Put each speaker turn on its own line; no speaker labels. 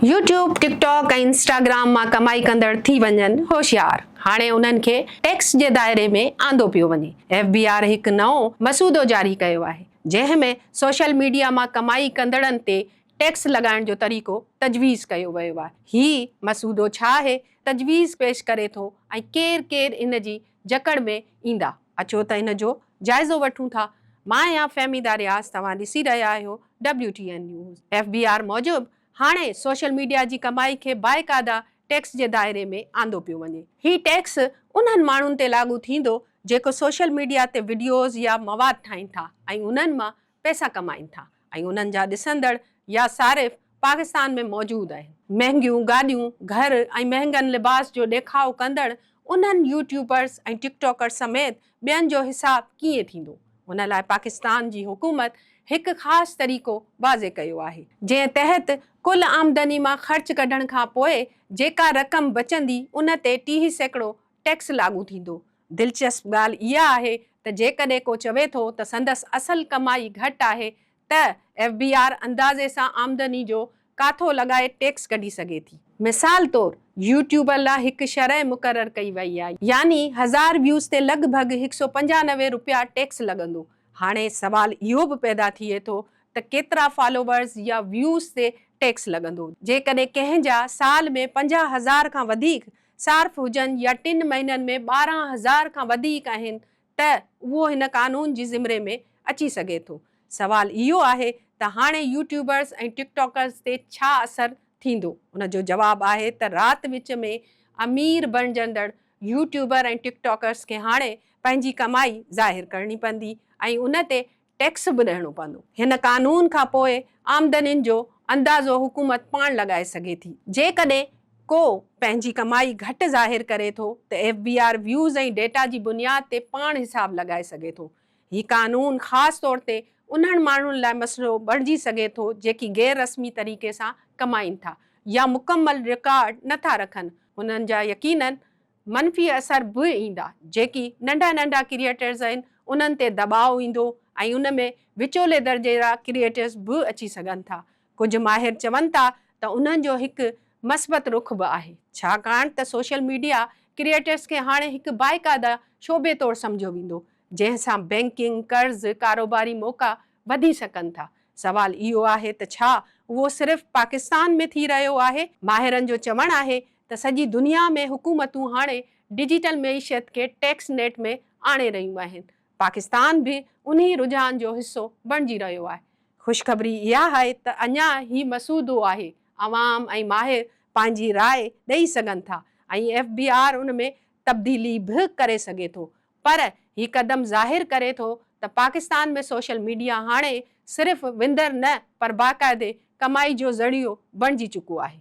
YouTube, TikTok ۽ Instagram مان ڪمائي ڪندڙ ٿي وڃن هوشيار، هاڻي انهن کي ٽيڪس جي دائري ۾ آندو پيو وڃي، ايف بي آر هڪ نئون مسودو جاري ڪيو آهي، جنهن ۾ سوشل ميڊيا مان ڪمائي ڪندڙن تي ٽيڪس لڳائڻ جو طريقو تجويز ڪيو ويو آهي، هي مسودو ڇا آهي، تجويز پيش ڪري ٿو ۽ ڪير ڪير ان جي جڪڙ ۾ ايندا، اچو ته ان جو جائزو وٺون ٿا، مان آهيان فهميده رياض توهان ڏسي رهيا آهيو WTN News، F B R موجب، هاڻي سوشل ميڊيا جي ڪمائي کي باقاعده ٽيڪس جي دائري ۾ آندو پيو وڃي. هي ٽيڪس انهن ماڻهن تي لاڳو ٿيندو جيڪو سوشل ميڊيا تي وڊيوز يا مواد ٺاهين ٿا ۽ انهن مان پئسا ڪمائين ٿا ۽ انهن جا ڏسندڙ يا صارف پاڪستان ۾ موجود آهن. مهنگيون گاڏيون، گهر ۽ مهنگن لباس جو ڏيکاء ڪندڙ انهن يوٽيوبرز ۽ ٽڪ ٽاڪرز سميت ٻين جو حساب ڪيئن ٿيندو؟ ان لاء پاڪستان جي حڪومت هڪ خاص طريقو واضح ڪيو آهي. جنهن تحت ڪل آمدني مان خرچ ڪڍڻ کان پوء جيڪا رقم بچندي ان تي ٽيهه سيڪڙو ٽيڪس لاڳو ٿيندو. دلچسپ ڳالهه اها آهي ته جيڪڏهن ڪو چوي ٿو ته سندس اصل ڪمائي گهٽ آهي ته ايف بي آر اندازي سان آمدني جو ڪاٿو لڳائي ٽيڪس ڪڍي سگهي ٿي. مثال طور يوٽيوبر لا هڪ شرح مقرر ڪئي وئي آهي يعني هزار ويوز تي لڳ ڀڳ هڪ سؤ پنجانوي رپيا ٽيڪس لڳندو. هاڻي سوال اهو به پيدا ٿئي ٿو ته ڪيترا فالوورز يا ويوز تي ٽيڪس لڳندو؟ جيڪڏهن ڪنهن جا سال ۾ پنجاهه هزار کان وڌيڪ صارف هجن يا ٽن مهينن ۾ ٻارهن هزار کان وڌيڪ آهن ته اهو هن قانون جي زمري ۾ اچي سگهي ٿو. سوال اهو آهي ته هاڻي يوٽيوبرز ۽ ٽڪ ٽاڪرز تي ڇا اثر ٿيندو؟ ان جو جواب آهي ته رات وچ ۾ امير بڻجندڙ يوٽيوبر ۽ ٽڪ ٽاڪرز کي هاڻي پنهنجي ڪمائي ظاهر ڪرڻي پوندي ۽ ان تي ٽيڪس به ڏيڻو پوندو. هن قانون کان پوء آمدنين جو اندازو حڪومت پاڻ لڳائي سگهي ٿي. جيڪڏهن ڪو پنهنجي ڪمائي گهٽ ظاهر ڪري ٿو ته F B R views ۽ data جي بنياد تي پاڻ حساب لڳائي سگهي ٿو. هي قانون خاص طور تي انهن ماڻهن لاء مسئلو بڻجي سگهي ٿو جيڪي غير رسمي طريقي سان ڪمائين ٿا يا مڪمل رڪارڊ نه ٿا رکن، هنن جا يقينن منفي اثر به ايندا، جيڪي ننڍا ننڍا ڪريئيٽرز آهن انهن تي دٻاء ايندو ۽ ان ۾ وچولي درجي جا ڪريئيٽرز به اچي سگهن ٿا. ڪجهه ماهر چون ٿا ته انهن جو هڪ مثبت رخ به آهي، ڇاڪاڻ ته سوشل ميڊيا ڪريئيٽرز کي هاڻي هڪ باقاعده شعبي طور سمجهيو ويندو، جنهن سان بئنڪنگ، قرض، ڪاروباري موقعا وڌي سگهن ٿا. سوال اهو آهي ته ڇا اهو صرف پاڪستان ۾ ٿي رهيو آهي؟ ماهرن جو چوڻ آهي ته سڄي دنيا ۾ حڪومتون هاڻي ڊجيٽل معيشت کي ٽيڪس نيٽ ۾ آڻي رهيون آهن، پاڪستان به انهي رجحان جو حصو بڻجي رهيو آهي. خوشخبري اها آهي ته اڃا هي مسودو آهي، عوام ۽ ماهر پنهنجي راء ڏئي سگهن ٿا ۽ ايف بي آر ان ۾ تبديلي به ڪري سگهي ٿو پر هي قدم ظاهر ڪري ٿو ته پاڪستان ۾ سوشل ميڊيا هاڻي صرف وندر نه پر باقاعدي ڪمائي جو ذريعو بڻجي چڪو آهي.